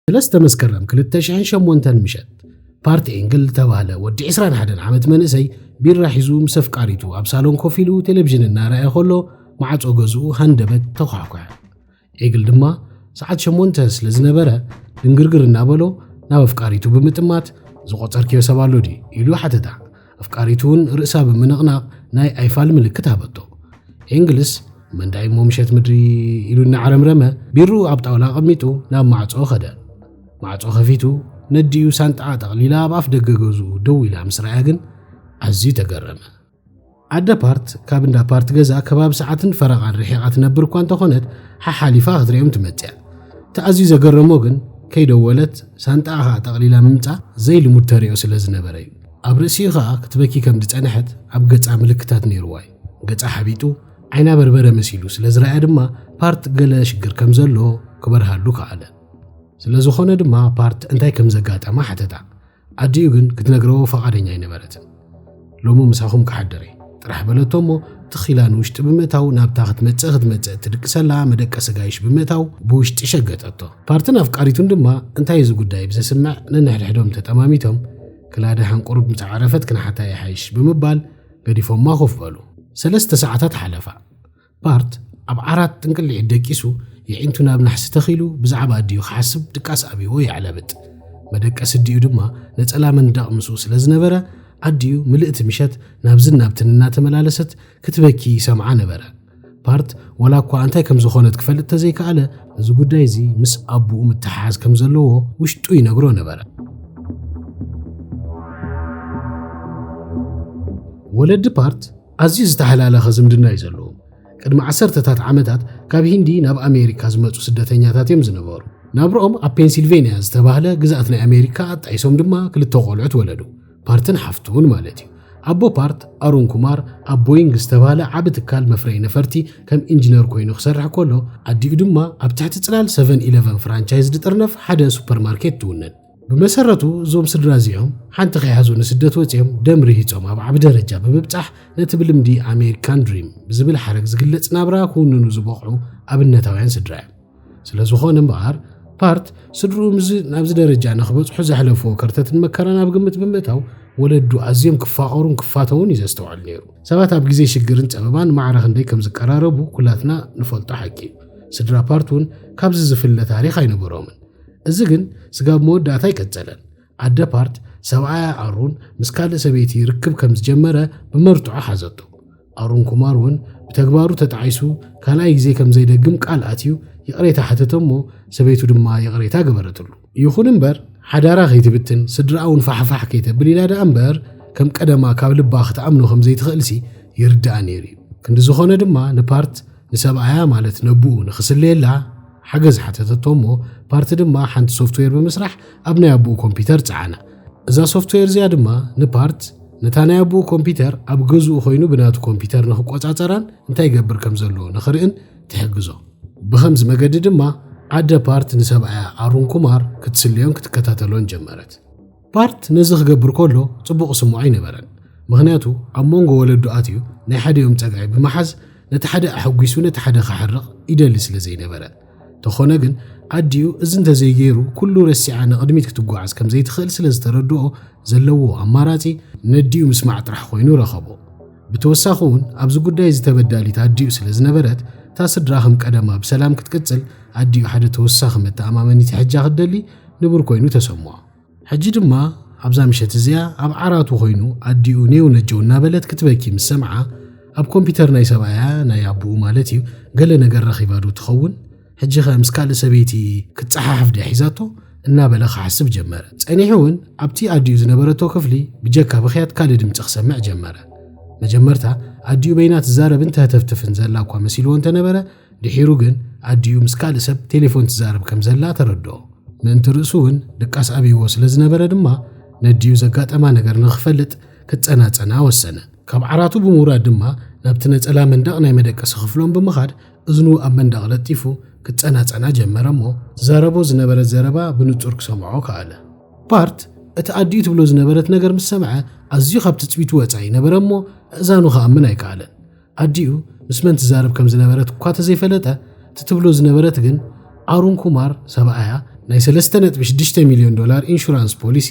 ሰለስተ መስከረም 2008 ምሸት ፓርቲ ኤንግል ዝተባህለ ወዲ 21 ዓመት መንእሰይ ቢራ ሒዙ ምስ ኣፍቃሪቱ ኣብ ሳሎን ኮፍ ኢሉ ቴሌቭዥን እናረኣየ ከሎ ማዕፆ ገዝኡ ሃንደበት ተኳሕኳሐ። ዒግል ድማ ሰዓት ሸሞንተ ስለ ዝነበረ ድንግርግር እናበሎ ናብ ኣፍቃሪቱ ብምጥማት ዝቖጸርክዮ ሰብ ኣሎ ድዩ ኢሉ ሓተታ ኣፍቃሪቱ እውን ርእሳ ብምንቕናቕ ናይ ኣይፋል ምልክት ሃበቶ ኤንግልስ መንዳይ እሞ ምሸት ምድሪ ኢሉ እናዓረምረመ ቢሩ ኣብ ጣውላ ኣቐሚጡ ናብ ማዕጾ ኸደ ማዕጾ ከፊቱ ነዲኡ ሳንጣዓ ጠቕሊላ ኣብ ኣፍ ደገ ገዝኡ ደው ኢላ ምስ ረኣያ ግን ኣዝዩ ተገረመ ኣደ ፓርት ካብ እንዳ ፓርት ገዛ ከባቢ ሰዓትን ፈረቓን ርሒቓ ትነብር እኳ እንተኾነት ሓሓሊፋ ክትሪኦም ትመጽያ እቲ ኣዝዩ ዘገረሞ ግን ከይደወለት ሳንጣኣ ኸኣ ጠቕሊላ ምምጻ ዘይልሙድ ተሪኦ ስለ ዝነበረ እዩ ኣብ ርእሲኡ ኸኣ ክትበኪ ከም ዝጸንሐት ኣብ ገጻ ምልክታት ነይርዋ እዩ ገጻ ሓቢጡ ዓይና በርበረ መሲሉ ስለ ዝረኣያ ድማ ፓርት ገለ ሽግር ከም ዘሎ ክበርሃሉ ከኣለ ስለ ዝኾነ ድማ ፓርት እንታይ ከም ዘጋጠማ ሓተታ ኣዲኡ ግን ክትነግረዎ ፈቓደኛ ኣይነበረትን። ሎሚ ምሳኹም ክሓድር እየ ጥራሕ በለቶ እሞ ትኽ ኢላ ንውሽጢ ብምእታው ናብታ ክትመጽእ ክትመጽእ እትድቅሰላ መደቀሲ ጋይሽ ብምእታው ብውሽጢ ሸገጠቶ። ፓርትን ኣፍቃሪቱን ድማ እንታይ እዚ ጉዳይ ብዘስምዕ ነንሕድሕዶም ተጠማሚቶም ክላደ ሓንቁርብ ምስ ዓረፈት ክንሓታ ይሓይሽ ብምባል ገዲፎማ ኮፍ በሉ። ሰለስተ ሰዓታት ሓለፋ። ፓርት ኣብ ዓራት ጥንቅሊዒት ደቂሱ የዒንቱ ናብ ናሕሲ ተኺሉ ብዛዕባ ኣዲኡ ክሓስብ ድቃስ ኣብዎ የዕለብጥ መደቀሲ ኣዲኡ ድማ ነጸላ መንዳቕ ምስኡ ስለ ዝነበረ ኣዲኡ ምልእቲ ምሸት ናብዝን ናብትን እናተመላለሰት ክትበኪ ይሰምዓ ነበረ። ፓርት ወላ እኳ እንታይ ከም ዝኾነት ክፈልጥ ተዘይከኣለ እዚ ጉዳይ እዚ ምስ ኣቡኡ ምትሓሓዝ ከም ዘለዎ ውሽጡ ይነግሮ ነበረ። ወለዲ ፓርት ኣዝዩ ዝተሓላለኸ ዝምድና እዩ ዘለዎም። ቅድሚ ዓሰርተታት ዓመታት ካብ ሂንዲ ናብ ኣሜሪካ ዝመጹ ስደተኛታት እዮም ዝነበሩ። ናብርኦም ኣብ ፔንሲልቬንያ ዝተባህለ ግዝኣት ናይ ኣሜሪካ ኣጣይሶም ድማ ክልተ ቆልዑት ወለዱ፣ ፓርትን ሓፍቱን ማለት እዩ። ኣቦ ፓርት ኣሩን ኩማር ኣብ ቦይንግ ዝተባህለ ዓቢ ትካል መፍረይ ነፈርቲ ከም ኢንጂነር ኮይኑ ክሰርሕ ከሎ ኣዲኡ ድማ ኣብ ትሕቲ ጽላል 711 ፍራንቻይዝ ድጥርነፍ ሓደ ሱፐርማርኬት ትውንን። ብመሰረቱ እዞም ስድራ እዚኦም ሓንቲ ከይሓዙ ንስደት ወፂኦም ደም ርሂፆም ኣብ ዓቢ ደረጃ ብምብፃሕ ነቲ ብልምዲ ኣሜሪካን ድሪም ብዝብል ሓረግ ዝግለፅ ናብራ ክውንኑ ዝበቕዑ ኣብነታውያን ስድራ እዮም ስለ ዝኾነ እምበኣር ፓርት ስድርኡ ምስዚ ናብዚ ደረጃ ንክበፅሑ ዘሕለፍዎ ከርተትን መከራን ኣብ ግምት ብምእታው ወለዱ ኣዝዮም ክፋቐሩን ክፋተውን እዩ ዘስተውዕል ነይሩ ሰባት ኣብ ግዜ ሽግርን ፀበባን ማዕረ ክንደይ ከም ዝቀራረቡ ኩላትና ንፈልጦ ሓቂ እዩ ስድራ ፓርት እውን ካብዚ ዝፍለ ታሪክ ኣይነበሮምን እዚ ግን ስጋብ መወዳእታ ኣይቀጸለን። ኣደ ፓርት፣ ሰብኣያ ኣሩን ምስ ካልእ ሰበይቲ ርክብ ከም ዝጀመረ ብመርትዖ ሓዘቶ። ኣሩን ኩማር እውን ብተግባሩ ተጣዒሱ ካልኣይ ግዜ ከም ዘይደግም ቃል ኣትዩ ይቕሬታ ሓተተ እሞ ሰበይቱ ድማ ይቕሬታ ገበረትሉ። ይኹን እምበር ሓዳራ ከይትብትን ስድራኣ እውን ፋሕፋሕ ከይተብል ኢላ ደኣ እምበር ከም ቀደማ ካብ ልባ ክትኣምኖ ከም ዘይትኽእልሲ ይርድኣ ነይሩ እዩ። ክንዲ ዝኾነ ድማ ንፓርት፣ ንሰብኣያ ማለት ነቡኡ ንኽስለየላ ሓገዝ ሓተተቶ እሞ ፓርቲ ድማ ሓንቲ ሶፍትዌር ብምስራሕ ኣብ ናይ ኣቡኡ ኮምፒተር ጸዓና። እዛ ሶፍትዌር እዚኣ ድማ ንፓርት ነታ ናይ ኣቡኡ ኮምፒተር ኣብ ገዝኡ ኮይኑ ብናቱ ኮምፒተር ንኽቆጻጸራን እንታይ ይገብር ከም ዘለዎ ንኽርእን ትሕግዞ። ብኸምዚ መገዲ ድማ ኣደ ፓርት ንሰብኣያ ኣሩን ኩማር ክትስለዮን ክትከታተሎን ጀመረት። ባርት ነዚ ክገብር ከሎ ጽቡቕ ክስምዖ ኣይነበረን፣ ምኽንያቱ ኣብ መንጎ ወለዱ ኣትዩ ናይ ሓዲኦም ጸግዒ ብምሓዝ ነቲ ሓደ ኣሐጒሱ ነቲ ሓደ ክሓርቕ ይደሊ ስለ ዘይነበረ። ተኾነ ግን ኣዲኡ እዚ እንተዘይገይሩ ኩሉ ረሲዓ ንቕድሚት ክትጓዓዝ ከም ዘይትኽእል ስለ ዝተረድኦ ዘለዎ ኣማራጺ ነዲኡ ምስማዕ ጥራሕ ኮይኑ ረኸቦ። ብተወሳኺ እውን ኣብዚ ጉዳይ እዚ ተበዳሊት ኣዲኡ ስለ ዝነበረት እታ ስድራ ከም ቀደማ ብሰላም ክትቅጽል ኣዲኡ ሓደ ተወሳኺ መተኣማመኒት ይሕጃ ክትደሊ ንቡር ኮይኑ ተሰምዖ። ሕጂ ድማ ኣብዛ ምሸት እዚኣ ኣብ ዓራቱ ኮይኑ ኣዲኡ ኔው ነጀው እናበለት ክትበኪ ምስ ሰምዓ ኣብ ኮምፒተር ናይ ሰብኣያ ናይ ኣቦኡ ማለት እዩ ገለ ነገር ረኺባ ዶ ትኸውን ሕጂኸ ምስ ካልእ ሰበይቲ ክትፀሓሕፍ ድያ ሒዛቶ እናበለ ክሓስብ ጀመረ ፀኒሑ እውን ኣብቲ ኣዲኡ ዝነበረቶ ክፍሊ ብጀካ ብክያት ካልእ ድምፂ ክሰምዕ ጀመረ መጀመርታ ኣዲኡ በይና ትዛረብን ተህተፍትፍን ዘላ እኳ መሲልዎ እንተነበረ ድሒሩ ግን ኣዲኡ ምስ ካልእ ሰብ ቴሌፎን ትዛረብ ከም ዘላ ተረድኦ። ምእንቲ ርእሱ እውን ድቃስ ኣብይዎ ስለ ዝነበረ ድማ ነዲኡ ዘጋጠማ ነገር ንኽፈልጥ ክጸናጸና ወሰነ። ካብ ዓራቱ ብምውራድ ድማ ናብቲ ነጸላ መንደቕ ናይ መደቀሲ ክፍሎም ብምኻድ እዝኑ ኣብ መንደቕ ለጢፉ ክጸናጸና ጀመረ እሞ ትዛረቦ ዝነበረት ዘረባ ብንጹር ክሰምዖ ከኣለ። ባርት እቲ ኣዲኡ ትብሎ ዝነበረት ነገር ምስ ሰምዐ ኣዝዩ ካብ ትጽቢቱ ወጻኢ ነበረ እሞ ኣእዛኑ ክኣምን ኣይከኣለን። ኣዲኡ ምስ መን ትዛረብ ከም ዝነበረት እኳ ተዘይፈለጠ እቲ ትብሎ ዝነበረት ግን ኣሩን ኩማር ሰብኣያ ናይ 3.6 ሚልዮን ዶላር ኢንሹራንስ ፖሊሲ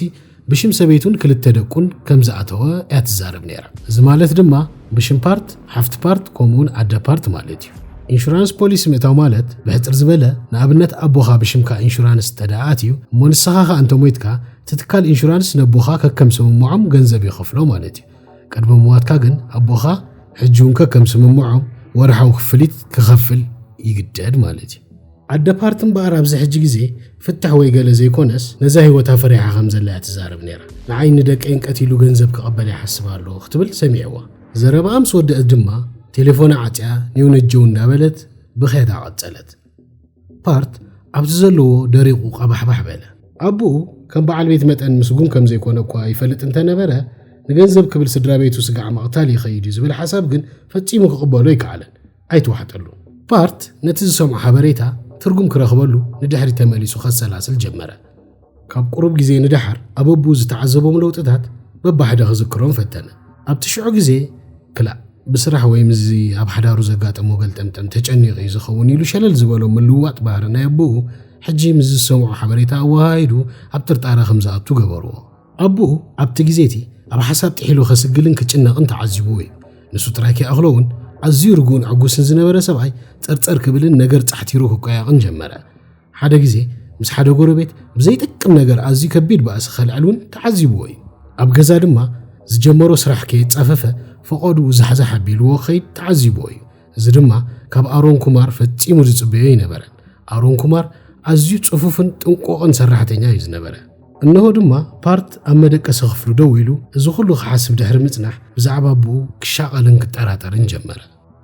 ብሽም ሰበይቱን ክልተ ደቁን ከም ዝኣተወ እያ ትዛረብ ነይራ እዚ ማለት ድማ ብሽም ፓርት ሓፍቲ ፓርት ከምኡውን ኣደ ፓርት ማለት እዩ ኢንሹራንስ ፖሊሲ ምእታው ማለት ብሕፅር ዝበለ ንኣብነት ኣቦኻ ብሽምካ ኢንሹራንስ ተደኣት እዩ እሞ ንስኻ ኸ እንተሞይትካ ትትካል ኢንሹራንስ ነቦኻ ከከም ስምምዖም ገንዘብ ይኸፍሎ ማለት እዩ ቅድሚ ምሟትካ ግን ኣቦኻ ሕጂ እውን ከከም ስምምዖም ወርሓዊ ክፍሊት ክኸፍል ይግደድ ማለት እዩ። ኣደ ፓርቲ እምበኣር ኣብዚ ሕጂ ግዜ ፍትሕ ወይ ገለ ዘይኮነስ ነዛ ህይወታ ፈሪሓ ከም ዘላ እያ ትዛረብ ነይራ። ንዓይን ንደቀይን ቀቲሉ ገንዘብ ክቕበል ይሓስብ ኣሎ ክትብል ሰሚዕዋ። ዘረብኣ ምስ ወደእት ድማ ቴሌፎና ዓጽያ ኔው ነጀው እንዳበለት ብኽያታ ቀጸለት። ፓርት ኣብዚ ዘለዎ ደሪቑ ቐባሕባሕ በለ። ኣቦኡ ከም በዓል ቤት መጠን ምስጉን ከም ዘይኮነ እኳ ይፈልጥ እንተ ነበረ፣ ንገንዘብ ክብል ስድራ ቤቱ ስጋዕ ምቕታል ይኸይድ እዩ ዝብል ሓሳብ ግን ፈጺሙ ክቕበሎ ኣይከኣለን። ኣይተዋሕጠሉን። ፓርት ነቲ ዝሰምዖ ሓበሬታ ትርጉም ክረኽበሉ ንድሕሪት ተመሊሱ ከሰላስል ጀመረ። ካብ ቁሩብ ግዜ ንደሓር ኣበቡ ዝተዓዘቦም ለውጥታት በባሕደ ክዝክሮም ፈተነ። ኣብቲ ሽዑ ግዜ ክላእ ብስራሕ ወይ ምስዚ ኣብ ሓዳሩ ዘጋጠሞ ገልጠምጠም ተጨኒቑ እዩ ዝኸውን ኢሉ ሸለል ዝበሎ ምልውዋጥ ባህሪ ናይ ኣቦኡ ሕጂ ምስ ዝሰምዖ ሓበሬታ ኣወሃሂዱ ኣብ ጥርጣረ ከም ዝኣቱ ገበርዎ። ኣቦኡ ኣብቲ ግዜ እቲ ኣብ ሓሳብ ጥሒሉ ከስግልን ክጭነቕን ተዓዚብዎ እዩ። ንሱ ጥራይ ከይኣኽሎ እውን ኣዝዩ ርጉእን ዕጉስን ዝነበረ ሰብኣይ ጸርጸር ክብልን ነገር ጻሕቲሩ ክቆያቕን ጀመረ። ሓደ ግዜ ምስ ሓደ ጎረቤት ብዘይጠቅም ነገር ኣዝዩ ከቢድ ባእሲ ከልዕል እውን ተዓዚብዎ እዩ። ኣብ ገዛ ድማ ዝጀመሮ ስራሕ ከየጻፈፈ ፈቖድኡ ዛሕዛሕ ኣቢልዎ ክኸይድ ተዓዚብዎ እዩ። እዚ ድማ ካብ ኣሮን ኩማር ፈጺሙ ዝጽበዮ ኣይነበረን። ኣሮን ኩማር ኣዝዩ ጽፉፍን ጥንቁቕን ሰራሕተኛ እዩ ዝነበረ። እነሆ ድማ ፓርት ኣብ መደቀሲ ክፍሉ ደው ኢሉ እዚ ኹሉ ክሓስብ ድሕሪ ምጽናሕ ብዛዕባ ኣቦኡ ክሻቐልን ክጠራጠርን ጀመረ።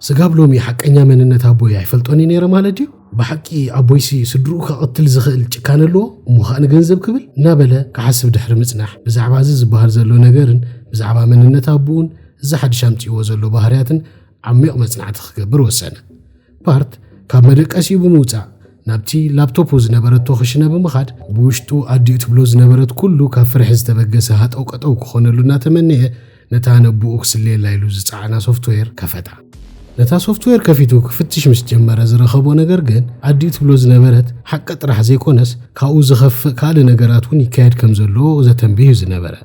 ስጋብ ሎሚ ሓቀኛ መንነት ኣቦይ ኣይፈልጦን እዩ ነይረ ማለት ድዩ? ብሓቂ ኣቦይሲ ስድርኡ ከቐትል ዝኽእል ጭካነ ኣለዎ እሞ ኸኣ ንገንዘብ ክብል እናበለ ክሓስብ ድሕሪ ምጽናሕ ብዛዕባ እዚ ዝበሃል ዘሎ ነገርን ብዛዕባ መንነት ኣቦኡን እዚ ሓድሽ ኣምጺእዎ ዘሎ ባህርያትን ዓሚቕ መጽናዕቲ ክገብር ወሰነ። ፓርት ካብ መደቀሲኡ ብምውጻእ ናብቲ ላፕቶፑ ዝነበረቶ ክሽነ ብምኻድ ብውሽጡ ኣዲኡ ትብሎ ዝነበረት ኩሉ ካብ ፍርሒ ዝተበገሰ ሃጠው ቀጠው ክኾነሉ እናተመነየ ነታ ነብኡ ክስልየላ ኢሉ ዝጸዓና ሶፍትዌር ከፈታ። ነታ ሶፍትዌር ከፊቱ ክፍትሽ ምስ ጀመረ ዝረኸቦ ነገር ግን ኣዲኡ ትብሎ ዝነበረት ሓቂ ጥራሕ ዘይኮነስ ካብኡ ዝኸፍእ ካልእ ነገራት እውን ይካየድ ከም ዘሎ ዘተንብህ እዩ ዝነበረ።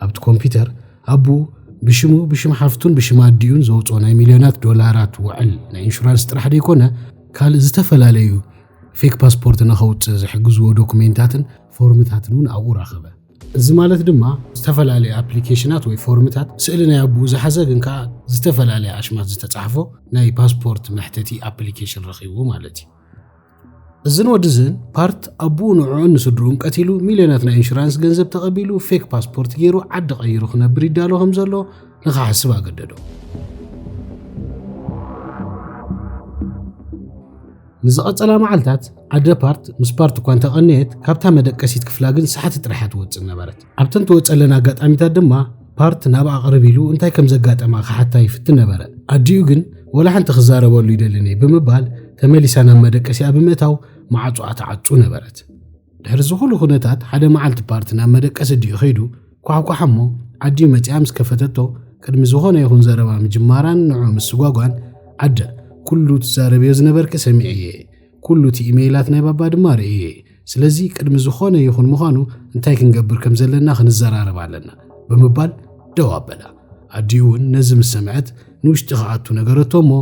ኣብቲ ኮምፒተር ኣቡኡ ብሽሙ ብሽም ሓፍቱን ብሽም ኣዲኡን ዘውፅኦ ናይ ሚልዮናት ዶላራት ውዕል ናይ ኢንሹራንስ ጥራሕ ዘይኮነ ካልእ ዝተፈላለዩ ፌክ ፓስፖርት ንኸውፅእ ዝሕግዝዎ ዶኩሜንታትን ፎርምታትን እውን ኣብኡ ረኸበ። እዚ ማለት ድማ ዝተፈላለየ ኣፕሊኬሽናት ወይ ፎርምታት ስእሊ ናይ ኣቡኡ ዝሓዘ ግን ከዓ ዝተፈላለየ ኣሽማት ዝተፃሕፎ ናይ ፓስፖርት መሕተቲ ኣፕሊኬሽን ረኺቡ ማለት እዩ እዝን ወድዝን ፓርት ኣቡኡ ንዕዑን ንስድርኡን ቀቲሉ ሚልዮናት ናይ ኢንሹራንስ ገንዘብ ተቐቢሉ ፌክ ፓስፖርት ገይሩ ዓዲ ቀይሩ ክነብር ይዳሎ ከም ዘሎ ንኽሓስብ ኣገደዶ ንዝቐጸላ መዓልታት ኣደ ፓርት ምስ ፓርት እኳ እንተቐነየት ካብታ መደቀሲት ክፍላ ግን ሰሓቲ ጥራሕ እያ ትወጽእ ነበረት። ኣብተን ትወጸለን ኣጋጣሚታት ድማ ፓርት ናብኣ ቅርብ ኢሉ እንታይ ከም ዘጋጠማ ክሓታ ይፍትን ነበረ። ኣዲኡ ግን ወላ ሓንቲ ክዛረበሉ ይደልን'የ ብምባል ተመሊሳ ናብ መደቀሲኣ ብምእታው መዓጹኣ ትዓጹ ነበረት። ድሕሪ እዚ ኩሉ ኩነታት ሓደ መዓልቲ ፓርቲ ናብ መደቀሲ ዲኡ ከይዱ ኳሕኳሕ እሞ ኣዲኡ መጺኣ ምስ ከፈተቶ ቅድሚ ዝኾነ ይኹን ዘረባ ምጅማራን ንዑ ምስጓጓን ኣደ ኩሉ ትዛረብዮ ዝነበርኪ ሰሚዐየ ኩሉ እቲ ኢመይላት ናይ ባባ ድማ ርእየ ስለዚ ቅድሚ ዝኾነ ይኹን ምዃኑ እንታይ ክንገብር ከም ዘለና ክንዘራረብ ኣለና ብምባል ደው ኣበላ ኣዲኡ እውን ነዚ ምስ ሰምዐት ንውሽጢ ክኣቱ ነገረቶ እሞ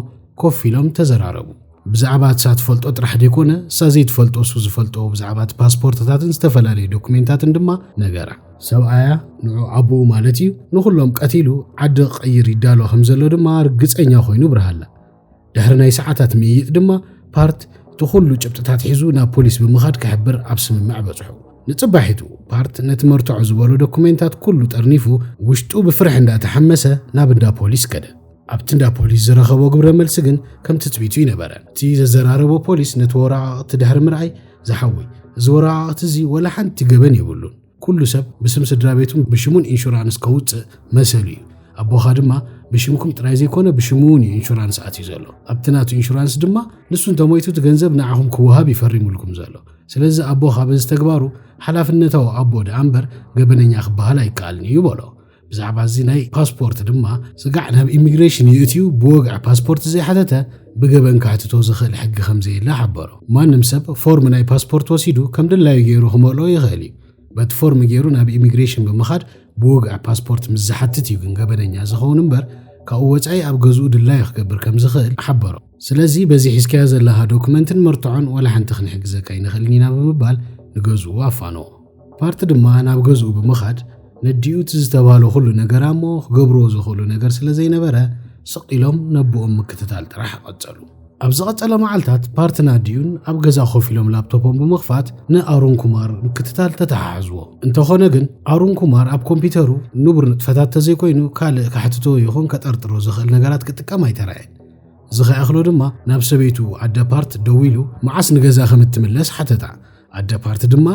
ኮፍ ኢሎም ተዘራረቡ ብዛዕባ እሳ ትፈልጦ ጥራሕ ዘይኮነ እሳ ዘይትፈልጦ እሱ ዝፈልጦ ብዛዕባ እቲ ፓስፖርትታትን ዝተፈላለዩ ዶኩሜንታትን ድማ ነገራ። ሰብኣያ ንዑ ኣቦኡ ማለት እዩ ንኹሎም ቀቲሉ ዓዲ ክቐይር ይዳሎ ከም ዘሎ ድማ ርግፀኛ ኮይኑ ብርሃላ። ድሕሪ ናይ ሰዓታት ምይይጥ ድማ ፓርት እቲ ኩሉ ጭብጥታት ሒዙ ናብ ፖሊስ ብምኻድ ክሕብር ኣብ ስምምዕ በጽሑ ንጽባሒቱ ፓርት ነቲ መርትዖ ዝበሎ ዶኩሜንታት ኩሉ ጠርኒፉ ውሽጡ ብፍርሒ እንዳተሓመሰ ናብ እንዳ ፖሊስ ከደ ኣብቲ እንዳ ፖሊስ ዝረኸቦ ግብረ መልሲ ግን ከም ትጽቢቱ ይነበረ እቲ ዘዘራረቦ ፖሊስ ነቲ ወረቓቕቲ ድሕሪ ምርኣይ ዝሓወይ እዚ ወረቓቕቲ እዚ ወላ ሓንቲ ገበን የብሉን ኩሉ ሰብ ብስም ስድራ ቤቱን ብሽሙን ኢንሹራንስ ከውፅእ መሰሉ እዩ ኣቦኻ ድማ ብሽምኩም ጥራይ ዘይኮነ ብሽሙ እውን እዩ ኢንሹራንስ ኣትዩ ዘሎ ኣብቲ ናቱ ኢንሹራንስ ድማ ንሱ እንተሞይቱ እቲ ገንዘብ ንዓኹም ክወሃብ ይፈሪሙልኩም ዘሎ ስለዚ ኣቦኻ በዚ ተግባሩ ሓላፍነታዊ ኣቦ ደኣ እምበር ገበነኛ ክበሃል ኣይከኣልን እዩ በሎ ብዛዕባ እዚ ናይ ፓስፖርት ድማ ስጋዕ ናብ ኢሚግሬሽን ይእትዩ ብወግዒ ፓስፖርት ዘይሓተተ ብገበን ካሕትቶ ዝኽእል ሕጊ ከም ዘየለ ሓበሮ ማንም ሰብ ፎርም ናይ ፓስፖርት ወሲዱ ከም ድላዩ ገይሩ ክመልኦ ይኽእል እዩ በቲ ፎርም ገይሩ ናብ ኢሚግሬሽን ብምኻድ ብወግዒ ፓስፖርት ምስ ዝሓትት እዩ ግን ገበነኛ ዝኸውን እምበር ካብኡ ወፃኢ ኣብ ገዝኡ ድላዩ ክገብር ከም ዝኽእል ሓበሮ ስለዚ በዚ ሒዝካዮ ዘለኻ ዶክመንትን መርትዖን ዋላ ሓንቲ ክንሕግዘካ ይንኽእልን ኢና ብምባል ንገዝኡ ኣፋንዎ ፓርቲ ድማ ናብ ገዝኡ ብምኻድ ነዲኡ እቲ ዝተባህሎ ኩሉ ነገር ኣሞ ክገብርዎ ዝኽእሉ ነገር ስለ ዘይነበረ ስቕ ኢሎም ነቦኦም ምክትታል ጥራሕ ቐጸሉ። ኣብ ዝቐጸለ መዓልታት ፓርትን ኣዲኡን ኣብ ገዛ ኮፍ ኢሎም ላፕቶፖም ብምኽፋት ንኣሩን ኩማር ምክትታል ተተሓሓዝዎ። እንተኾነ ግን ኣሩን ኩማር ኣብ ኮምፒተሩ ንቡር ንጥፈታት ተዘይኮይኑ ካልእ ከሕትቶ ይኹን ከጠርጥሮ ዝኽእል ነገራት ክጥቀም ኣይተራእየን። እዚ ከይኣኽሎ ድማ ናብ ሰበይቱ ኣደ ፓርት ደዊሉ መዓስ ንገዛ ከም እትምለስ ሓተታ። ኣደ ፓርቲ ድማ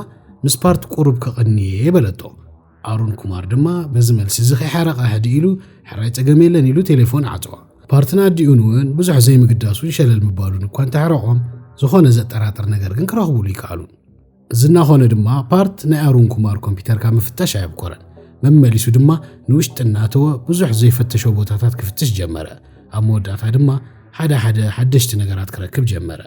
ምስ ፓርቲ ቁሩብ ከቐንየ በለቶ። ኣሩን ኩማር ድማ በዚ መልሲ እዚ ከይሓረቓ ህድእ ኢሉ ሕራይ ጸገም የለን ኢሉ ቴሌፎን ዓጸዋ። ፓርትን ኣዲኡን እውን ብዙሕ ዘይምግዳሱን ሸለል ምባሉን እኳ እንተሕረቖም ዝኾነ ዘጠራጥር ነገር ግን ክረኽቡሉ ይከኣሉን። እዚ እናኾነ ድማ ፓርት ናይ ኣሩን ኩማር ኮምፒተር ካብ ምፍተሽ ኣየብኮረን መመሊሱ ድማ ንውሽጢ እናተወ ብዙሕ ዘይፈተሾ ቦታታት ክፍትሽ ጀመረ ኣብ መወዳእታ ድማ ሓደ ሓደ ሓደሽቲ ነገራት ክረክብ ጀመረ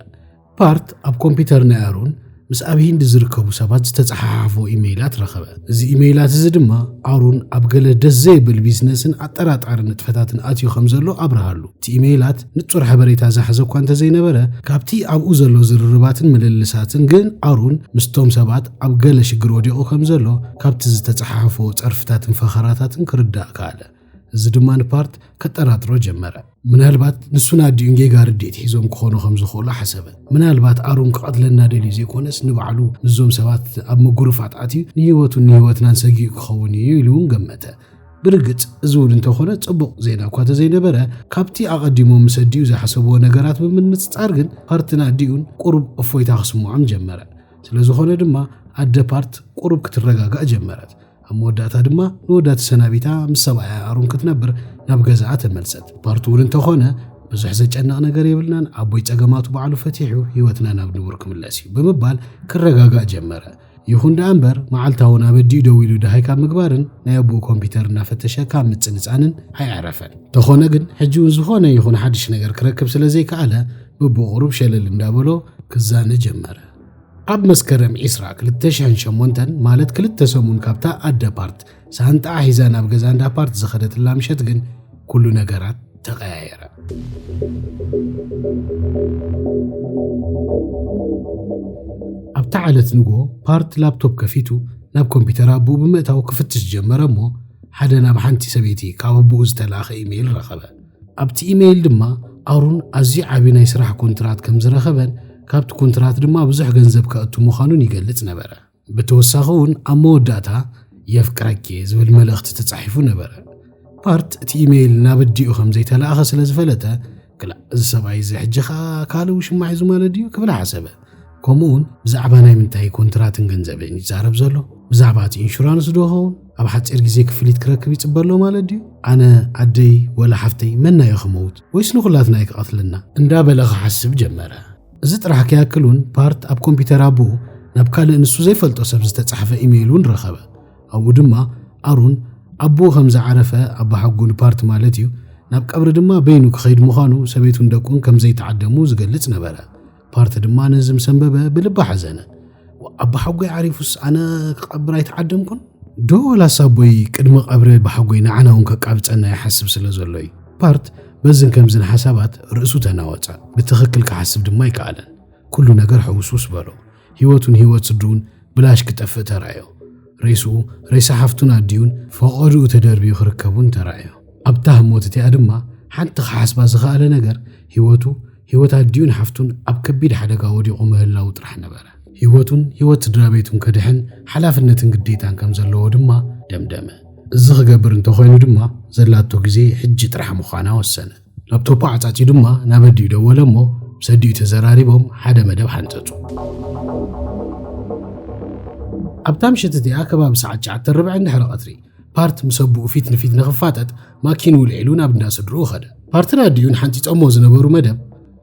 ፓርት ኣብ ኮምፒዩተር ናይ ኣሮን ምስ ኣብ ሂንዲ ዝርከቡ ሰባት ዝተፀሓሓፎ ኢመይላት ረኸበ። እዚ ኢመይላት እዚ ድማ ኣሮን ኣብ ገለ ደስ ዘይብል ቢዝነስን ኣጠራጣሪ ንጥፈታትን ኣትዩ ከም ዘሎ ኣብርሃሉ። እቲ ኢመይላት ንጹር ሓበሬታ ዝሓዘ እኳ እንተዘይነበረ፣ ካብቲ ኣብኡ ዘሎ ዝርርባትን ምልልሳትን ግን ኣሮን ምስቶም ሰባት ኣብ ገለ ሽግር ወዲቑ ከም ዘሎ ካብቲ ዝተፀሓሓፎ ፀርፍታትን ፈኸራታትን ክርዳእ ከኣለ። እዚ ድማ ንፓርት ከጠራጥሮ ጀመረ። ምናልባት ንሱን ኣዲኡን ጌጋ ርድኢት ሒዞም ክኾኑ ከም ዝኽእሉ ሓሰበ። ምናልባት ኣሮን ክቐትለና ደልዩ ዘይኮነስ ንባዕሉ ምስዞም ሰባት ኣብ ምጉርፋጥ ኣትዩ ንህይወቱን ንህይወትናን ሰጊኡ ክኸውን እዩ ኢሉ እውን ገመተ። ብርግጽ እዚ እውን እንተኾነ ጽቡቕ ዜና እኳ ተዘይነበረ ካብቲ ኣቐዲሞም ምስ ኣዲኡ ዝሓሰብዎ ነገራት ብምንጽጻር ግን ፓርትን ኣዲኡን ቁሩብ እፎይታ ክስምዖም ጀመረ። ስለዝኾነ ድማ ኣደ ፓርት ቁሩብ ክትረጋጋእ ጀመረት። ኣብ መወዳእታ ድማ ንወዳ ተሰናቢታ ምስ ሰብኣያ ኣሮን ክትነብር ናብ ገዛኣ ተመልሰት። ፓርት እውን እንተኾነ ብዙሕ ዘጨንቕ ነገር የብልናን፣ ኣቦይ ጸገማቱ ባዕሉ ፈቲሑ ህይወትና ናብ ንቡር ክምለስ እዩ ብምባል ክረጋጋእ ጀመረ። ይኹን ደኣ እምበር መዓልታውን ኣብ ኣዲኡ ደው ኢሉ ደሃይ ካብ ምግባርን ናይ ኣቦኡ ኮምፒተር እናፈተሸ ካብ ምጽንጻንን ኣየዕረፈን። እንተኾነ ግን ሕጂ እውን ዝኾነ ይኹን ሓድሽ ነገር ክረክብ ስለ ዘይከኣለ ብብቑሩብ ሸለል እንዳበሎ ክዛነ ጀመረ። ኣብ መስከረም ዒስራ ክልተ ሽሕን ሸሞንተን ማለት ክልተ ሰሙን ካብታ ኣደ ፓርት ሳንጣኣ ሒዛ ናብ ገዛ እንዳ ፓርት ዝኸደትላ ምሸት ግን ኩሉ ነገራት ተቐያየረ። ኣብታ ዓለት ንጎ ፓርት ላፕቶፕ ከፊቱ ናብ ኮምፒተር ኣቦኡ ብምእታው ክፍትሽ ጀመረ እሞ ሓደ ናብ ሓንቲ ሰበይቲ ካብ ኣቦኡ ዝተላእኸ ኢሜይል ረኸበ። ኣብቲ ኢመይል ድማ ኣሩን ኣዝዩ ዓቢ ናይ ስራሕ ኮንትራት ከም ዝረኸበን ካብቲ ኮንትራት ድማ ብዙሕ ገንዘብ ከእቱ ምዃኑን ይገልጽ ነበረ። ብተወሳኺ እውን ኣብ መወዳእታ የፍቅረኪ'የ ዝብል መልእኽቲ ተጻሒፉ ነበረ። ፓርት እቲ ኢመይል ናብ ኣዲኡ ከም ዘይተላእኸ ስለ ዝፈለጠ ክላእ እዚ ሰብኣይ እዚ ሕጂ ኸኣ ካልእ ውሽማ ሒዙ ማለት ድዩ ክብል ሓሰበ። ከምኡውን ብዛዕባ ናይ ምንታይ ኮንትራትን ገንዘብን እዩ ዝዛረብ ዘሎ ብዛዕባ እቲ ኢንሹራንስ ዶ ኸውን ኣብ ሓፂር ግዜ ክፍሊት ክረክብ ይፅበ ኣሎ ማለት ድዩ ኣነ ኣደይ ወላ ሓፍተይ መናዮ ክመውት ወይስ ንኹላትና እዩ ክቐትልና እንዳበለ ክሓስብ ጀመረ እዚ ጥራሕ ከያክል እውን ፓርት ኣብ ኮምፒተር ኣቦኡ ናብ ካልእ ንሱ ዘይፈልጦ ሰብ ዝተጻሕፈ ኢሜይል እውን ረኸበ ኣብኡ ድማ ኣሩን ኣቦኡ ከም ዝዓረፈ ኣባ ሓጉ ንፓርት ማለት እዩ ናብ ቀብሪ ድማ በይኑ ክኸይድ ምዃኑ ሰበይቱን ደቁን ከም ዘይተዓደሙ ዝገልጽ ነበረ ፓርቲ ድማ ነዚ ምስ ኣንበበ ብልቢ ሓዘነ። ኣቦሓጎይ ዓሪፉስ ኣነ ክቐብር ኣይተዓደምኩን ዶ ወላስ ኣቦይ ቅድሚ ቀብረ ብሓጎይ ንዓና እውን ከቃብፀና ይሓስብ ስለ ዘሎ እዩ ፓርት በዝን ከምዝን ሓሳባት ርእሱ ተናወፀ ብትኽክል ክሓስብ ድማ ኣይከኣለን ኩሉ ነገር ሕውስውስ በሎ ህይወቱን ህይወት ስድሩን ብላሽ ክጠፍእ ተራእዮ ሬስኡ ሬሳ ሓፍቱን ኣዲኡን ፈቐድኡ ተደርብዩ ክርከቡን ተራእዮ ኣብታ ህሞት እቲኣ ድማ ሓንቲ ክሓስባ ዝኸኣለ ነገር ህይወቱ ህይወት ኣዲኡን ሓፍቱን ኣብ ከቢድ ሓደጋ ወዲቑ ምህላዉ ጥራሕ ነበረ። ህይወቱን ህይወት ስድራቤቱን ከድሕን ሓላፍነትን ግዴታን ከም ዘለዎ ድማ ደምደመ። እዚ ክገብር እንተ ኾይኑ ድማ ዘላቶ ግዜ ሕጂ ጥራሕ ምዃና ወሰነ። ላፕቶፑ ዓጻጺዩ ድማ ናብ ኣዲኡ ደወለ እሞ ምስ ኣዲኡ ተዘራሪቦም ሓደ መደብ ሓንጸጹ። ኣብታ ምሸት እቲኣ ከባቢ ሰዓት ትሽዓተ ርብዒ ድሕሪ ቐትሪ ፓርት ምስ ኣቦኡ ፊት ንፊት ንኽፋጠጥ ማኪኑ ውልዒሉ ናብ እንዳ ስድርኡ ኸደ። ፓርትን ኣዲኡን ሓንጺጾሞ ዝነበሩ መደብ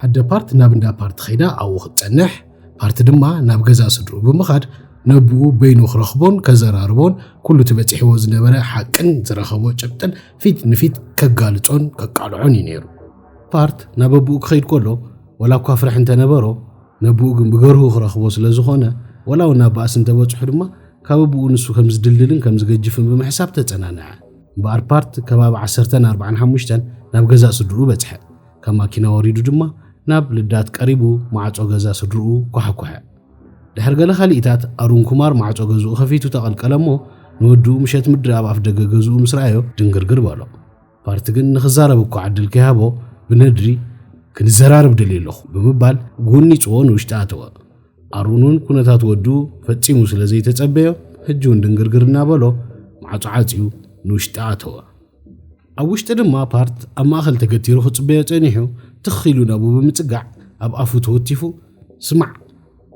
ኣደ ፓርት ናብ እንዳ ፓርት ኸይዳ ኣብኡ ክትጸንሕ ፓርት ድማ ናብ ገዛ ስድርኡ ብምኻድ ነብኡ በይኑ ክረኽቦን ከዘራርቦን ኩሉ እቲ በጺሕዎ ዝነበረ ሓቅን ዝረኸቦ ጭብጥን ፊት ንፊት ከጋልጾን ከቃልዖን እዩ ነይሩ። ፓርት ናብ ኣቦኡ ክኸይድ ከሎ ወላ እኳ ፍርሒ እንተነበሮ ነብኡ ግን ብገርሁ ክረኽቦ ስለ ዝኾነ ወላ እውን ናብ ባእሲ እንተበጽሑ ድማ ካብ ኣቡኡ ንሱ ከም ዝድልድልን ከም ዝገጅፍን ብምሕሳብ ተጸናንዐ። እምበኣር ፓርት ከባቢ ዓሰርተን ኣርብዓን ሓሙሽተን ናብ ገዛእ ስድርኡ በጽሐ። ካብ ማኪና ወሪዱ ድማ ናብ ልዳት ቀሪቡ ማዕጾ ገዛ ስድርኡ ኳሓኳሐ። ድሕሪ ገለ ካልኢታት ኣሩን ኩማር ማዕጾ ገዝኡ ከፊቱ ተቐልቀለ እሞ ንወድኡ ምሸት ምድሪ ኣብ ኣፍደገ ገዝኡ ምስ ረኣዮ ድንግርግር በሎ። ፓርቲ ግን ንክዛረብ እኳ ዕድል ከይሃቦ ብነድሪ ክንዘራርብ ደልየ ኣለኹ ብምባል ጎኒፅዎ ንውሽጢ ኣተወ። ኣሮን እውን ኩነታት ወዱ ፈፂሙ ስለ ዘይተፀበዮ ሕጂ እውን ድንግርግር እናበሎ ማዕፆ ዓፅዩ ንውሽጢ ኣተወ። ኣብ ውሽጢ ድማ ፓርት ኣብ ማእኸል ተገቲሩ ክፅበዮ ፀኒሑ ትኽ ኢሉ ናብኡ ብምፅጋዕ ኣብ ኣፉ ተወቲፉ ስማዕ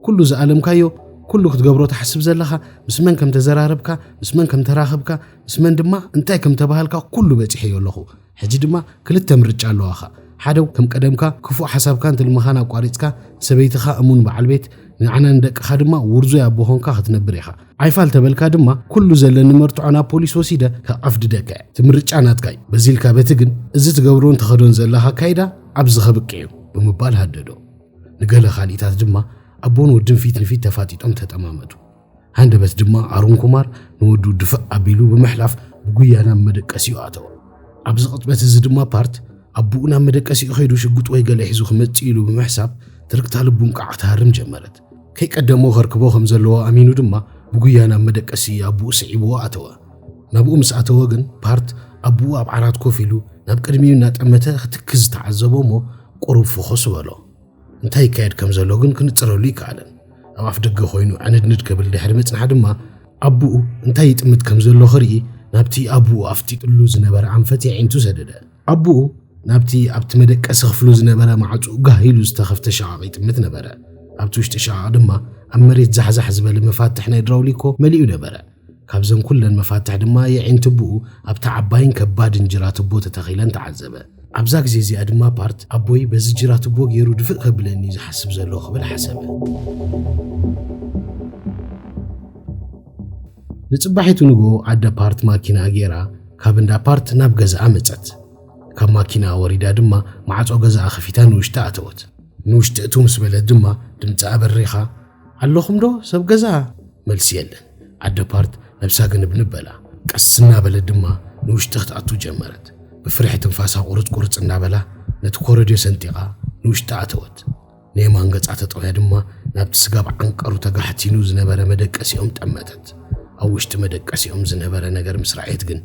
ኩሉ ዝኣለምካዮ፣ ኩሉ ክትገብሮ ትሓስብ ዘለኻ፣ ምስ መን ከም ተዘራረብካ፣ ምስ መን ከም ተራኽብካ፣ ምስ መን ድማ እንታይ ከም ተባሃልካ ኩሉ በጺሐዮ ኣለኹ። ሕጂ ድማ ክልተ ምርጫ ኣለዋኻ። ሓደ ከም ቀደምካ ክፉእ ሓሳብካን ትልምኻን ኣቋሪጽካ ንሰበይትኻ እሙን በዓል ቤት ንዓና ንደቅኻ ድማ ውርዙይ ኣቦ ኾንካ ክትነብር ኢኻ። ዓይፋል ተበልካ ድማ ኩሉ ዘለኒ መርትዖ ናብ ፖሊስ ወሲደ ከቐፍድደካ እየ። እቲ ምርጫ ናትካ እዩ። በዚ ኢልካ በቲ ግን እዚ ትገብሮን ተኸዶን ዘለኻ ኣካይዳ ኣብዚ ከብቅዕ እዩ ብምባል ሃደዶ። ንገለ ካልኢታት ድማ ኣቦን ወድን ፊት ንፊት ተፋጢጦም ተጠማመቱ። ሃንደበት ድማ ኣሩን ኩማር ንወዱ ድፍእ ኣቢሉ ብምሕላፍ ብጉያ ናብ መደቀሲኡ ኣተወ። ኣብዚ ቅጽበት እዚ ድማ ፓርት ኣቦኡ ናብ መደቀሲኡ ከይዱ ሽጉጥ ወይ ገለ ሒዙ ክመጽእ ኢሉ ብምሕሳብ ትርግታ ልቡ እንቃዕ ትሃርም ጀመረት። ከይቀደሞ ከርክቦ ከም ዘለዎ ኣሚኑ ድማ ብጉያ ናብ መደቀሲ ኣቦኡ ስዒብዎ ኣተወ። ናብኡ ምስ ኣተወ ግን ፓርት ኣቦኡ ኣብ ዓራት ኮፍ ኢሉ ናብ ቅድሚኡ እናጠመተ ክትክዝ ተዓዘቦ እሞ ቁሩብ ፍኹስ በሎ። እንታይ ይካየድ ከም ዘሎ ግን ክንጽረሉ ኣይከኣለን። ኣብ ኣፍ ደገ ኮይኑ ዕንድንድ ክብል ድሕሪ ምጽናሕ ድማ ኣቡኡ እንታይ ይጥምት ከም ዘሎ ክርኢ ናብቲ ኣቡኡ ኣፍጢጥሉ ዝነበረ ኣንፈት የዒንቱ ሰደደ ኣቡኡ ናብቲ ኣብቲ መደቀሲ ክፍሉ ዝነበረ ማዕጹኡ ጋህ ኢሉ ዝተኸፍተ ሸቓቕ ይጥምት ነበረ ኣብቲ ውሽጢ ሸቓቕ ድማ ኣብ መሬት ዛሕዛሕ ዝበለ መፋትሕ ናይ ድራውሊኮ መሊኡ ነበረ ካብዘን ኩለን መፋትሕ ድማ የዒንትቦኡ ኣብታ ዓባይን ከባድን ጅራትቦ ተተኺለን ተዓዘበ። ኣብዛ ግዜ እዚኣ ድማ ፓርት፣ ኣቦይ በዚ ጅራትቦ ገይሩ ድፍእ ከብለኒ እዩ ዝሓስብ ዘሎ ክብል ሓሰበ። ንጽባሒቱ ንግሆ ኣደ ፓርት ማኪናኣ ገይራ ካብ እንዳ ፓርት ናብ ገዛኣ መጸት። ካብ ማኪናኣ ወሪዳ ድማ ማዕጾ ገዛኣ ከፊታ ንውሽጢ ኣተወት። ንውሽጢ እትው ምስ በለት ድማ ድምጻኣ በሪኻ፣ ኣለኹም ዶ ሰብ ገዛ? መልሲ የለን። ኣደ ፓርት ነብሳ ግንብንብ በላ። ቀስ እናበለት ድማ ንውሽጢ ክትኣቱ ጀመረት። ብፍርሒ ትንፋሳ ቁርጽ ቁርጽ እናበላ ነቲ ኮረድዮ ሰንጢቓ ንውሽጢ ኣተወት። ንየማን ገጻ ተጠውያ ድማ ናብቲ ስጋብ ዓንቀሩ ተጋሕቲኑ ዝነበረ መደቀሲኦም ጠመተት። ኣብ ውሽጢ መደቀሲኦም ዝነበረ ነገር ምስ ረኣየት ግን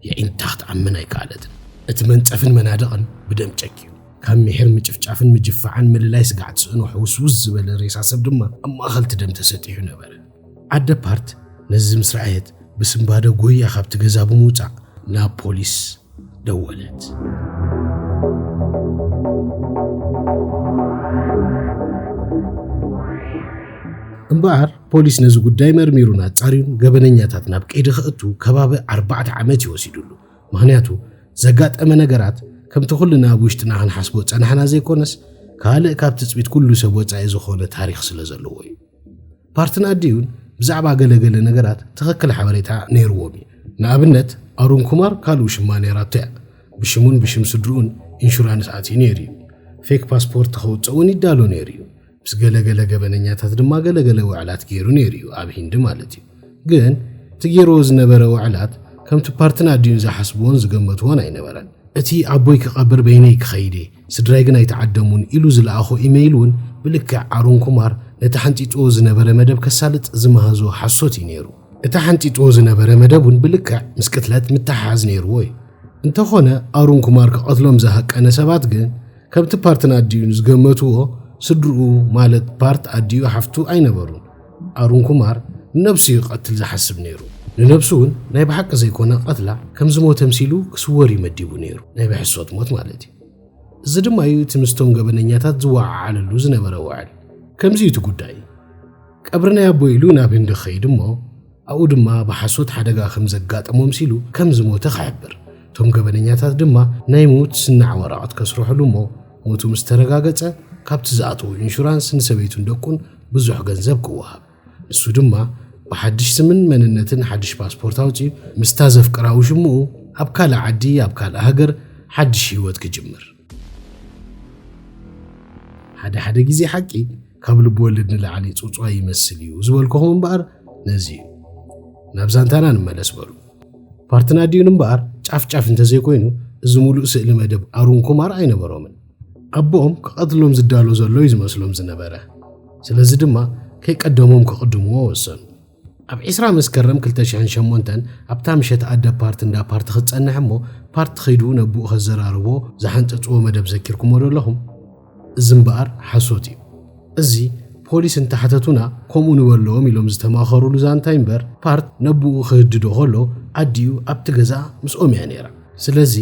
የዒንታ ክትኣምን ኣይከኣለትን። እቲ መንጸፍን መናድቕን ብደም ጨቅዩ። ካብ ምሒር ምጭፍጫፍን ምጅፋዕን ምልላይ ስጋዕ ትስእኖ ሕውስውስ ዝበለ ሬሳ ሰብ ድማ ኣብ ማእኸልቲ ደም ተሰጢሑ ነበረ። ኣደ ፓርት ነዚ ምስ ረኣየት ብስምባደ ጎያ ካብቲ ገዛ ብምውፃእ ናብ ፖሊስ ደወለት። እምበኣር ፖሊስ ነዚ ጉዳይ መርሚሩን ኣጻርዩን ገበነኛታት ናብ ቀይዲ ከእቱ ከባቢ ኣርባዕተ ዓመት እዩ ወሲዱሉ። ምኽንያቱ ዘጋጠመ ነገራት ከምቲ ኩልና ኣብ ውሽጥና ክንሓስቦ ጸናሕና ዘይኮነስ ካልእ ካብ ትጽቢት ኩሉ ሰብ ወጻኢ ዝኾነ ታሪኽ ስለ ዘለዎ እዩ ፓርትን ኣዲዩን ብዛዕባ ገለገለ ነገራት ትኽክል ሓበሬታ ነይርዎም እዩ ንኣብነት ኣሩን ኩማር ካልኡ ሽማ ነይራቶ እያ ብሽሙን ብሽም ስድርኡን ኢንሹራንስ ኣትዩ ነይሩ እዩ ፌክ ፓስፖርት ከውፅእ እውን ይዳሎ ነይሩ እዩ ምስ ገለ ገለ ገበነኛታት ድማ ገለ ገለ ውዕላት ገይሩ ነይሩ እዩ፣ ኣብ ሂንዲ ማለት እዩ። ግን እቲ ገይርዎ ዝነበረ ውዕላት ከምቲ ፓርትን ኣዲኡን ዝሓስብዎን ዝገመትዎን ኣይነበረን። እቲ ኣቦይ ክቐብር በይነይ ክኸይድ እየ፣ ስድራይ ግን ኣይተዓደሙን ኢሉ ዝለኣኾ ኢመይል እውን ብልክዕ ኣሩን ኩማር ነቲ ሓንጢጥዎ ዝነበረ መደብ ከሳልጥ ዝመሃዞ ሓሶት እዩ ነይሩ። እቲ ሓንጢጥዎ ዝነበረ መደብ እውን ብልክዕ ምስ ቅትለት ምትሕሓዝ ነይርዎ እዩ። እንተኾነ ኣሩን ኩማር ክቐትሎም ዝሃቀነ ሰባት ግን ከምቲ ፓርትን ኣዲኡን ዝገመትዎ ስድርኡ ማለት ፓርት ኣዲኡ ሓፍቱ ኣይነበሩን። ኣሩን ኩማር ንነብሱ እዩ ክቐትል ዝሓስብ ነይሩ። ንነብሱ እውን ናይ ብሓቂ ዘይኮነ ቀትላ ከም ዝሞተ ምሲሉ ክስወር እዩ መዲቡ ነይሩ፣ ናይ ብሕሶት ሞት ማለት እዩ። እዚ ድማ እዩ እቲ ምስቶም ገበነኛታት ዝወዓዓለሉ ዝነበረ ውዕል። ከምዚ እዩ እቲ ጉዳይ። ቀብሪ ናይ ኣቦይ ኢሉ ናብ ህንዲ ክኸይድ እሞ ኣብኡ ድማ ብሓሶት ሓደጋ ከም ዘጋጠሞ ኣምሲሉ ከም ዝሞተ ክሕብር፣ እቶም ገበነኛታት ድማ ናይ ምዉት ስናዕ ወረቐት ከስርሕሉ እሞ ሞቱ ምስ ተረጋገጸ ካብቲ ዝኣተዎ ኢንሹራንስ ንሰበይቱን ደቁን ብዙሕ ገንዘብ ክወሃብ ንሱ ድማ ብሓድሽ ስምን መንነትን ሓድሽ ፓስፖርት ኣውጺኡ ምስታ ዘፍቅራ ውሽምኡ ኣብ ካልእ ዓዲ ኣብ ካልእ ሃገር ሓድሽ ህይወት ክጅምር ሓደ ሓደ ግዜ ሓቂ ካብ ልብወለድ ንላዕሊ ጽውጽዋይ ይመስል እዩ ዝበልኩኹም እምበኣር ነዚ እዩ። ናብ ዛንታና ንመለስ በሉ። ፓርትና ዲዩን እምበኣር ጫፍ ጫፍ እንተዘይኮይኑ እዚ ሙሉእ ስእሊ መደብ ኣሩን ኩማር ኣይነበሮምን። ኣቦኦም ክቐትሎም ዝዳሎ ዘሎ እዩ ዝመስሎም ዝነበረ። ስለዚ ድማ ከይቀደሞም ክቕድምዎ ወሰኑ። ኣብ ዕስራ መስከረም ክልተ ሽሕን ሸሞንተን ኣብታ ምሸት ኣደ ፓርት እንዳ ፓርት ክትጸንሕ እሞ ፓርት ኺዱ ነቡኡ ከዘራርቦ ዝሓንጸጽዎ መደብ ዘኪርኩሞ ዶ ኣለኹም? እዚ እምበኣር ሓሶት እዩ። እዚ ፖሊስ እንተሓተቱና ከምኡ ንበለዎም ኢሎም ዝተማኸሩሉ ዛንታ እዩ እምበር ፓርት ነቡኡ ክህድዶ ከሎ ኣዲኡ ኣብቲ ገዛ ምስኦም እያ ነይራ። ስለዚ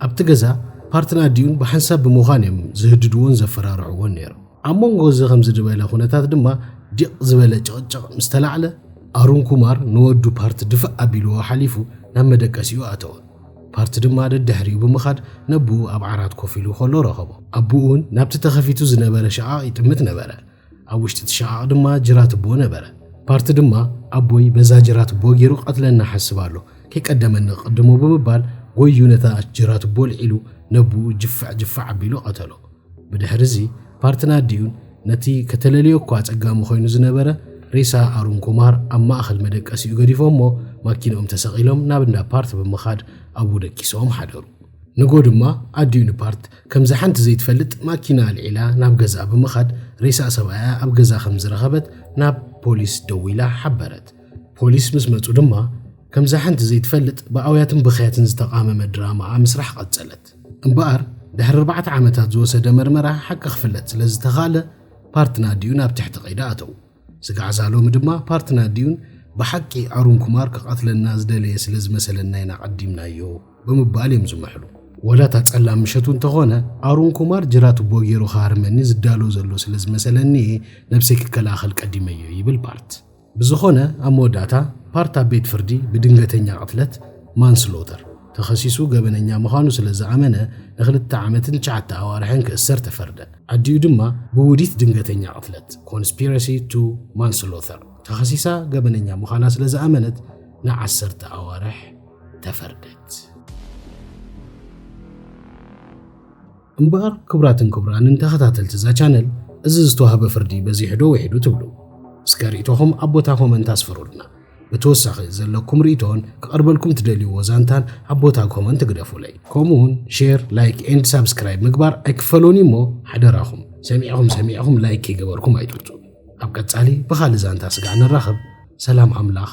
ኣብቲ ገዛ ፓርትን ኣዲኡን ብሓንሳብ ብምዃን እዮም ዝህድድዎን ዘፈራርሕዎን ነይሮም። ኣብ መንጎ እዚ ከምዚ ዝበለ ኩነታት ድማ ዲቕ ዝበለ ጭቕጭቕ ምስ ተላዕለ ኣሩን ኩማር ንወዱ ፓርት ድፍእ ኣቢልዎ ሓሊፉ ናብ መደቀሲኡ ኣተወ። ፓርት ድማ ደድሕሪኡ ብምኻድ ነቦኡ ኣብ ዓራት ኮፍ ኢሉ ከሎ ረኸቦ። ኣቦኡ እውን ናብቲ ተኸፊቱ ዝነበረ ሸቓቕ ይጥምት ነበረ። ኣብ ውሽጢ እቲ ሸቓቕ ድማ ጅራትቦ ነበረ። ፓርት ድማ ኣቦይ በዛ ጅራትቦ ገይሩ ክቐትለና ሓስብ ኣሎ፣ ከይቀደመኒ ክቕድሞ ብምባል ጎይዩ ነታ ጅራትቦ ኣልዒሉ ነቦኡ ጅፍዕ ጅፍዕ ኣቢሉ ቀተሎ። ብድሕሪ'ዚ ፓርትና ዲዩን ነቲ ከተለልዮ እኳ ኣጸጋሚ ኮይኑ ዝነበረ ሬሳ ኣሩን ኩማር ኣብ ማእከል መደቀሲኡ ገዲፎሞ ማኪንኦም ተሰቒሎም ናብ እንዳ ፓርት ብምኻድ ኣብኡ ደቂሶም ሓደሩ። ንግሆ ድማ ኣዲኡ ንፓርት ከምዛ ሓንቲ ዘይትፈልጥ ማኪና ኣልዒላ ናብ ገዝኣ ብምኻድ ሬሳ ሰብኣያ ኣብ ገዛ ከም ዝረኸበት ናብ ፖሊስ ደዊላ ሓበረት። ፖሊስ ምስ መጹ ድማ ከምዛ ሓንቲ ዘይትፈልጥ ብኣውያትን ብኽያትን ዝተቓመመ ድራማኣ ምስራሕ ቀጸለት። እምበኣር ድሕሪ ኣርባዕተ ዓመታት ዝወሰደ መርመራ ሓቂ ክፍለጥ ስለ ዝተኻለ ፓርትና ዲዩን ኣብ ትሕቲ ቀይዲ ኣተዉ። ስጋዕ እዛ ሎሚ ድማ ፓርትና ዲዩን ብሓቂ ኣሩን ኩማር ክቐትለና ዝደለየ ስለ ዝመሰለና ኢና ቐዲምናዮ ብምባል እዮም ዝምሕሉ። ወላ እታ ጸላም ምሸቱ እንተኾነ ኣሩን ኩማር ጅራ ቱቦ ገይሩ ክሃርመኒ ዝዳሎ ዘሎ ስለ ዝመሰለኒ እየ ነብሰይ ክከላኸል ቀዲመዮ ይብል ፓርት። ብዝኾነ ኣብ መወዳእታ ፓርት ኣብ ቤት ፍርዲ ብድንገተኛ ቅትለት፣ Manslaughter፣ ተኸሲሱ ገበነኛ ምዃኑ ስለ ዝኣመነ ንክልተ ዓመትን ትሽዓተ ኣዋርሕን ክእሰር ተፈርደ። ኣዲኡ ድማ ብውዲት ድንገተኛ ቅትለት፣ Conspiracy to Manslaughter፣ ተኸሲሳ ገበነኛ ምዃና ስለ ዝኣመነት ንዓሰርተ ኣዋርሕ ተፈርደት። እምበኣር ክብራትን ክብራንን ተኸታተልቲ እዛ ቻነል እዚ ዝተዋህበ ፍርዲ በዚሑ ዶ ውሒዱ ትብሉ? እስከ ሪኢቶኹም ኣብ ቦታ ኮመንት ኣስፍሩልና። ብተወሳኺ ዘለኩም ሪኢቶን ክቐርበልኩም ትደልዩዎ ዛንታን ኣብ ቦታ ኮመንት ግደፉለይ። ከምኡውን ሼር፣ ላይክ ኤንድ ሳብስክራይብ ምግባር ኣይክፈሎን እዩ እሞ ሓደራኹም ሰሚዕኹም ሰሚዕኹም ላይክ ከይገበርኩም ኣይትውጹ። ኣብ ቀጻሊ ብኻልእ ዛንታ ስጋዕ ንራኸብ። ሰላም ኣምላኽ